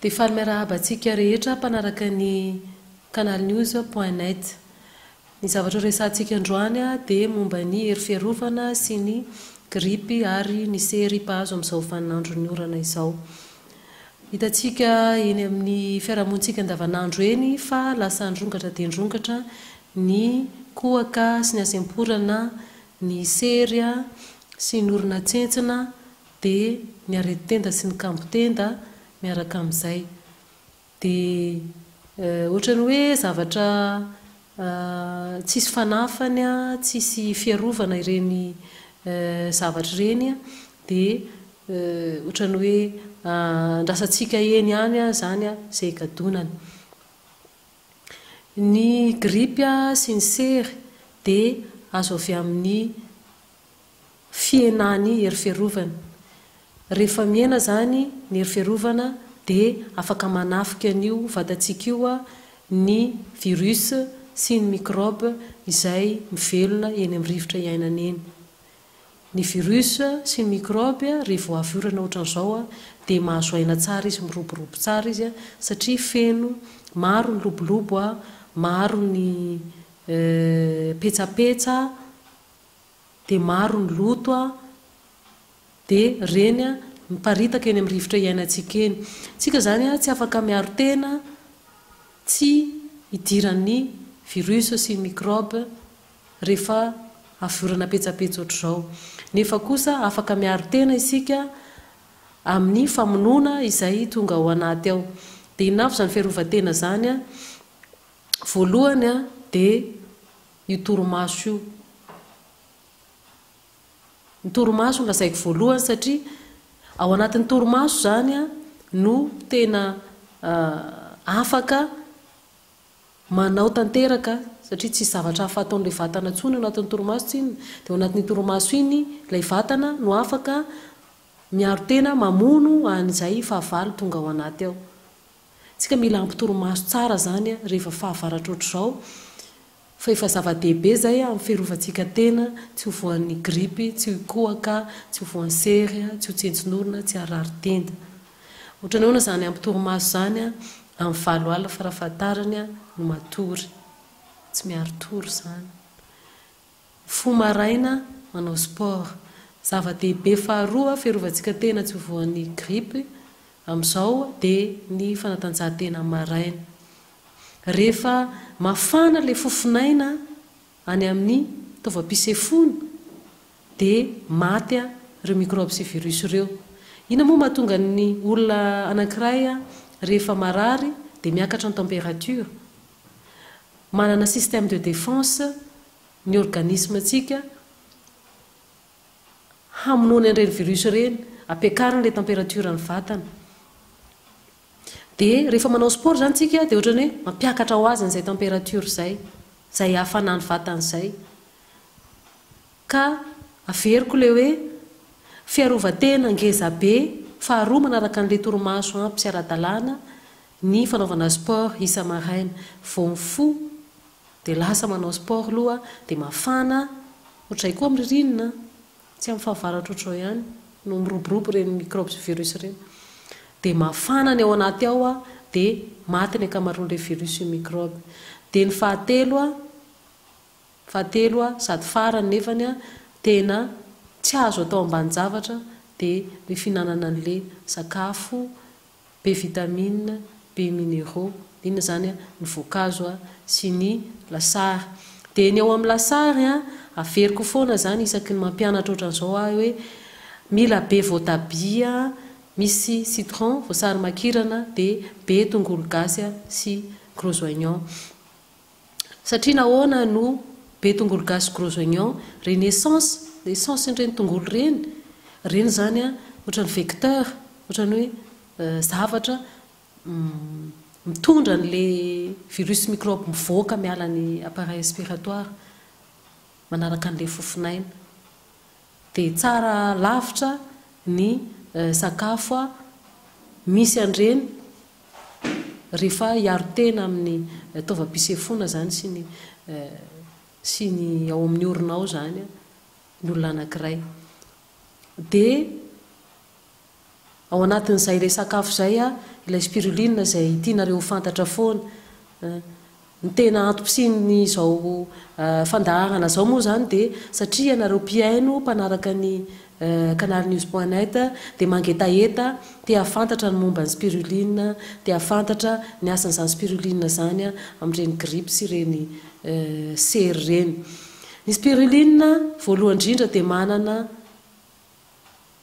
Dia faly miarahaba antsika rehetra mpanaraka ny canalnews point net. Ny zavatra horesahantsika androany dia momba ny hery fiarovana sy ny gripy ary ny sery mpahazo amin'izao vaninandron'ny orana izao. Hitantsika eny amin'ny fiarahamonintsika andavanandro eny fa lasa nirongatra dia nirongatra ny kohaka sy ny hasemporana, ny sery sy ny orona tsentsina, dia ny aretin-tenda sy ny kambon-tenda miaraka amin'izay. Dia ohatran'ny hoe zavatra tsisy fanafany, tsisy fiarovana ireny zavatra ireny, dia ohatran'ny hoe andrasantsika eny ihany izany izay higadonany. Ny grippe sy ny sery dia azo avy amin'ny. fihenany hery fiarovana. Rehefa mihena izany ny hery fiarovana dia afaka manafika an'io vatantsika io ny virus sy ny microbe izay mivelona eny amin'ny rivotra iainana eny. Ny virus sy ny microbe rehefa vao avy orana ohatran'izao dia mahazo aina tsara izy, miroborobo tsara izy satria feno, maro ny lobolobo, maro ny petsapetsa dia maro ny loto a dia reny a miparitaka eny amin'ny rivotra iainantsika eny. Tsika izany a tsy afaka miaro tena tsy hidiran'ny virus sy microbe rehefa avy orana petsapetsa ohatr'izao. Nefa kosa afaka miaro tena isika amin'ny famonoana izay tonga ao anaty ao. Dia inona avy izany fiarovan-tena izany a? Voalohany a dia. Io torimaso io. Ny torimaso no lazaiko voalohany satria ao anatin'ny torimaso izany no tena afaka manao tanteraka satria tsisy zavatra hafa ataon'ilay vatana intsony ao anatin'ny torimaso tsinona. Dia ao anatin'iny torimaso iny ilay vatana no afaka miaro tena mamono an'izay fahavalo tonga ao anaty ao. Tsika mila hampitorimaso tsara zany rehefa fahavaratra ohatr'izao fa efa zava-dehibe zay amin'ny fiarovantsika tena tsy ho voan'ny gripy, tsy ho kohaka, tsy ho voan'ny sery, tsy ho tsentsin'orona, tsy harary tenda. Ohatrany ahoana zany hampitorimaso zany amin'ny valo alina farafahatarany no matory. Tsy miari-tory zany. Fo maraina, manao sport. Zava-dehibe faharoa fiarovantsika tena tsy ho voan'ny grippe amin'izao dia ny fanatanjahantena maraina. Rehefa mafana ilay fofonaina any amin'ny taovam-pisefoana dia maty ireo mikraoby sy virus ireo. Inona moa mahatonga ny olona anankiray rehefa marary dia miakatra ny température? Manana système de défense ny organisme-ntsika hamonoany an'ireny virus ireny, ampiakariny ilay température an'ny vatana. Dia rehefa manao sport izany tsika dia ohatran'ny hoe mampiakatra ho azy an'izay température izay, izay hafana ny vatany izay. Ka averiko ilay hoe fiarovan-tena ngeza be faharoa manaraka an'ilay torimaso ampy sy ara-dalàna Ny fanaovana sport isa maraina vao mifoha dia lasa manao sport loha dia mafana otray koa am ririnina tsy am fahavaratra otrao ihany no miroborobo ireny microbes sy virus ireny dia mafana ny ao anaty ao a dia maty ny ankamaroan le virus sy microbe dia ny fahatelo a fahatelo a sady farany nefany a tena tsy azo atao ambanin javatra dia ny fihinanana anle sakafo Be vitamines, be minéraux, inona izany a, ny voankazo a, sy ny lasary. Dia ny ao amin'ny lasary a, averiko foana izany isaky ny mampianatra ohatran'izao ahy hoe mila be voatabia misy citron, voasarimakirana, dia be tongolo gasy sy gros oignon. Satria nahoana no be tongolo gasy gros oignon? Reny essence, essence ireny tongolo ireny, ireny izany an, ohatran'ny vecteur, ohatran'ny hoe zavatra mitondra an'ilay virus sy microbe mivoaka miala ny appareil respiratoire manaraka an'ilay fofon'aina. dia tsara lavitra ny sakafo misy an'ireny rehefa hiaro tena amin'ny taovam-pisefoana izany sy ny sy ny ao amin'ny orona ao izany ny olona anankiray dia Ao anatin'izay ilay sakafo izay ilay spiruline izay tianareo ho fantatra foana. Ny tena antom-pisian'izao fandaharana izao moa izany dia satria ianareo mpihaino mpanaraka ny canalnews point net dia mangetaheta te hahafantatra ny momba ny spiruline, te hahafantatra ny asan'izany spiruline izany amin'ireny grippe sy ireny sery ireny. Ny spiruline voalohany indrindra dia manana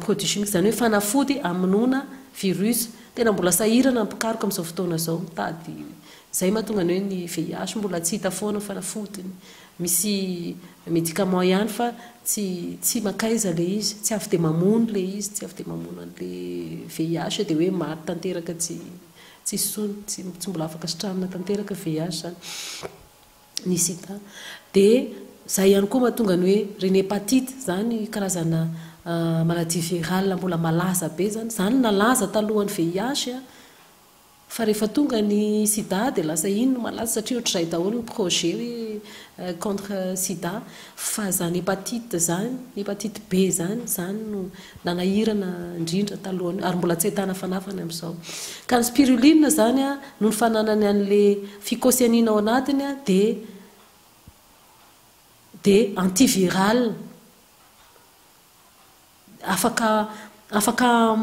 Produits chimiques izany hoe fanafody hamonoana virus. Tena mbola sahirana ny mpikaroka amin'izao fotoana izao mitady izay mahatonga ny hoe ny VIH mbola tsy hita foana ny fanafodiny. Misy médicament ihany fa tsy tsy mankaiza ilay izy, tsy avy dia mamono ilay izy, tsy avy dia mamono an'ilay VIH dia hoe maty tanteraka tsy tsisy tsony, tsy mbola afaka sitranina tanteraka VIH izany. ny sida dia izay ihany koa mahatonga ny hoe reny hepatite izany karazana maladie virale mbola malaza be izany, izany nalaza talohan'ny VIH fa rehefa tonga ny sida dia lasa iny no malaza satria ohatr'izay daholo ny projet hoe contre sida. Fa zany hepatite zany, hepatite B zany, zany no nanahirana ndrindra talohan'io ary mbola tsy ahitana fanafany amzao. Ka ny spiruline zany a, noho ny fananany anle phycocyanine ao anatiny a, de de antiviral afaka afaka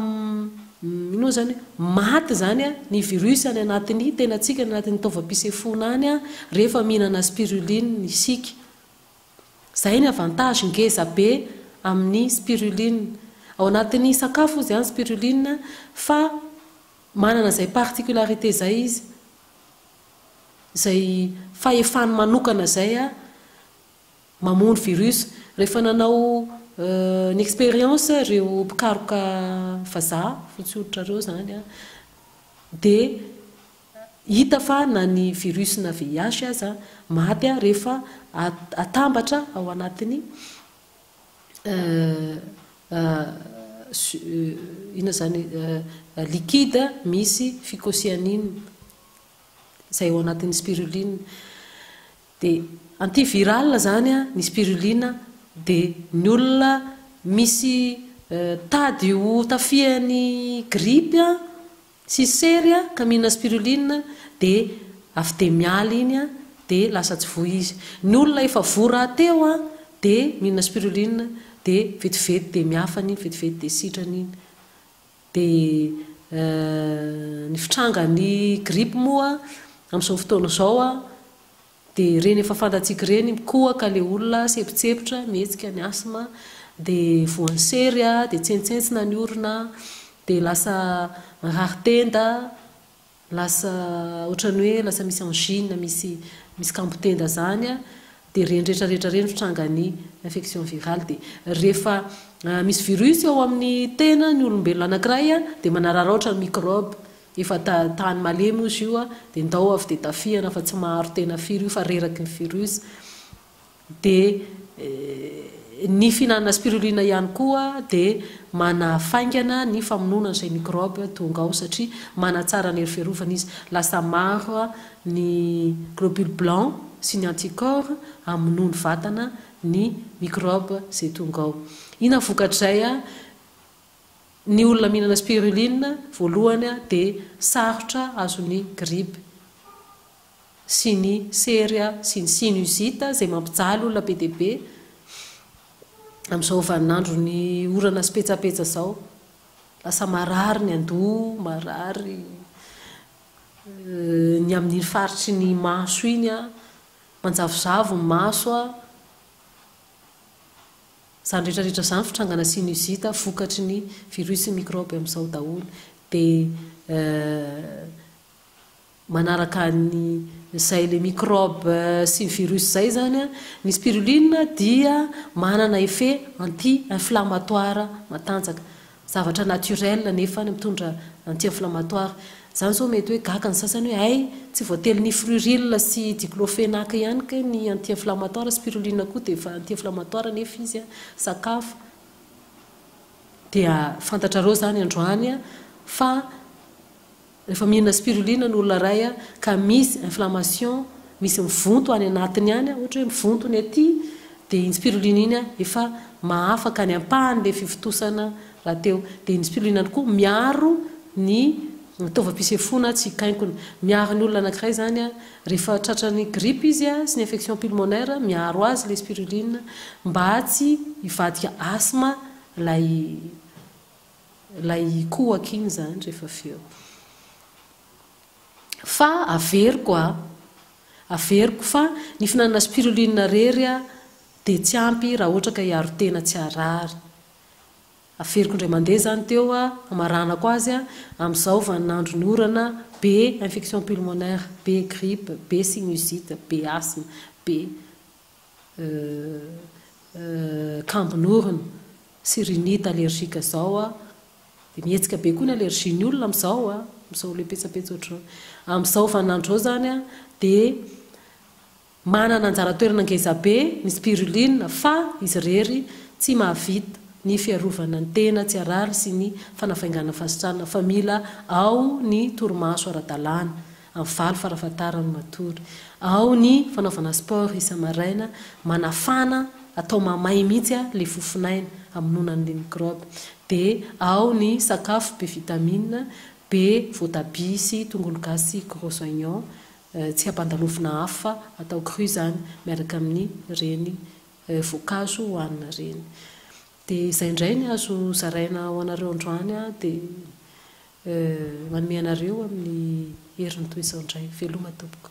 ino moa izany maty izany ny virus any anatin'ny tenantsika, any anatin'ny taovam-pisefoana any rehefa mihinana spiruline isika. Izay ny avantage ngeza be amin'ny spiruline. Ao anatin'ny sakafo izy any spiruline fa manana izay particularité izay izy, izay fahefany manokana izay mamono virus rehefa nanao ny expérience ireo mpikaroka vazaha fotsy hoditra ireo izany dia hita fa na ny virus na VIH aza maty rehefa atambatra ao anatin'ny inona izany liquide misy phycocyanine izay ao anatin'ny spiruline Dia anti viral zany ny spirulina dia ny olona misy tady ho tafihan'ny grippe sy sery ka mihinana spirulina dia avy dia miala iny dia lasa tsy voa izy. Ny olona efa voa rahateo dia mihinana spirulina dia vetivety dia miafany iny, vetivety dia sitrana iny. Dia ny fitrangan'ny grippe moa amin'izao fotoana izao dia ireny efa fantatsika ireny, mikohaka ilay olona, sempotsempotra, mihetsika ny asthme, dia voan'ny sery, dia tsentsentsina ny orona, dia lasa mirary tenda, Lasa otrany hoe lasa misy angine misy misy kambo tenda zany a de reny rehetra rehetra reny no trangan'ny infection virale de rehefa misy virus ao amin'ny tena ny olombelona anakiray a de manararaotra ny microbe efa ta tany malemy ozy io a de ndao avy de tafihana fa tsy maharo tena firy io fa reraky ny virus Dia ny fihinanana spirulina ihany koa dia manafaingana ny famonoana izay mikrôby tonga ao satria manatsara ny hery fiarovana izy. Lasa maro ny globules blancs sy ny anticorps hamonoa ny vatana ny mikrôby izay tonga ao. Inona ny vokatr'izay? Ny olona mihinana spirulina voalohany dia sarotra azon'ny grippe. sy ny sery a, sy ny sinusite izay mampijaly olona be dia be amin'izao vaninandron'ny orana sy petsapetsa izao. Lasa marary ny andoha, marary ny amin'iny faritry ny maso iny a, manjavozavo ny maso a, izany rehetra rehetra izany fitrangana sinusite vokatry ny virus sy ny microbe amin'izao daholo. Dia Manaraka ny izay le microbe sy virus izay izany, ny spiruline dia manana effet anti inflammatoire matanjaka, zavatra naturel nefa mitondra anti inflammatoire, izany zao mety hoe gaga ny sasany hoe hay tsy voatery ny fruril sy diclofenac ihany kay ny anti inflammatoire, spiruline koa dia efa anti inflammatoire nefa izy sakafo, dia fantatrareo izany androany fa. Rehefa mihinana spirulina ny olona iray ka misy inflammation, misy mivonto any anatiny any, ohatra hoe mivonto ny aty, dia iny spirulina iny efa mahafaka ny ampahan'ilay fivontosana rahateo. Dia iny spirulina iny koa miaro ny taovam-pisefoana tsy hikainkona. Miaro ny olona anankiray izany rehefa tratran'ny gripa izy sy ny infection pulmonaire, miaro azy ilay spirulina mba tsy hivadika asthme ilay. Ilay ikohaka iny izany rehefa avy eo. Fa averiko a! Averiko fa ny fihinanana spiruline irery dia tsy ampy raha ohatra ka hiaro tena tsy harary. Averiko indray mandeha izany teo hamaranako azy amin'izao vaninandron'ny orana be infection pulmonaire, be grippe, be sinusite, be asthme, be kambon'orona sy rhinite allergique izao a, dia mihetsika be koa ny allergie ny olona amin'izao a, amin'izao le petsapetsa ohatr'izao. Amin'izao vaninandro izao izany a, dia manana anjara toerana ngeza be ny spiruline fa izy irery tsy mahavita ny fiarovana ny tena tsy harary sy ny fanafainganana fasitrana fa mila ao ny torimaso ara-dalàna. Amin'ny valo farafahatarany matory. Ao ny fanaovana sport isa-maraina, manafana, atao mamay mihitsy ilay fofon'aina, hamonoana an'ilay mikraoba. Dia ao ny sakafo be vitamina, be voatabia sy tongolo gasy sy gros oignons, tsy ampandalovina afo fa atao cru izany, miaraka amin'ireny voankazo hohanina ireny. Dia izay indray ny azo zaraina ho anareo androany aho dia manome anareo amin'ny herin'ny toy izao indray. Veloma tompoko.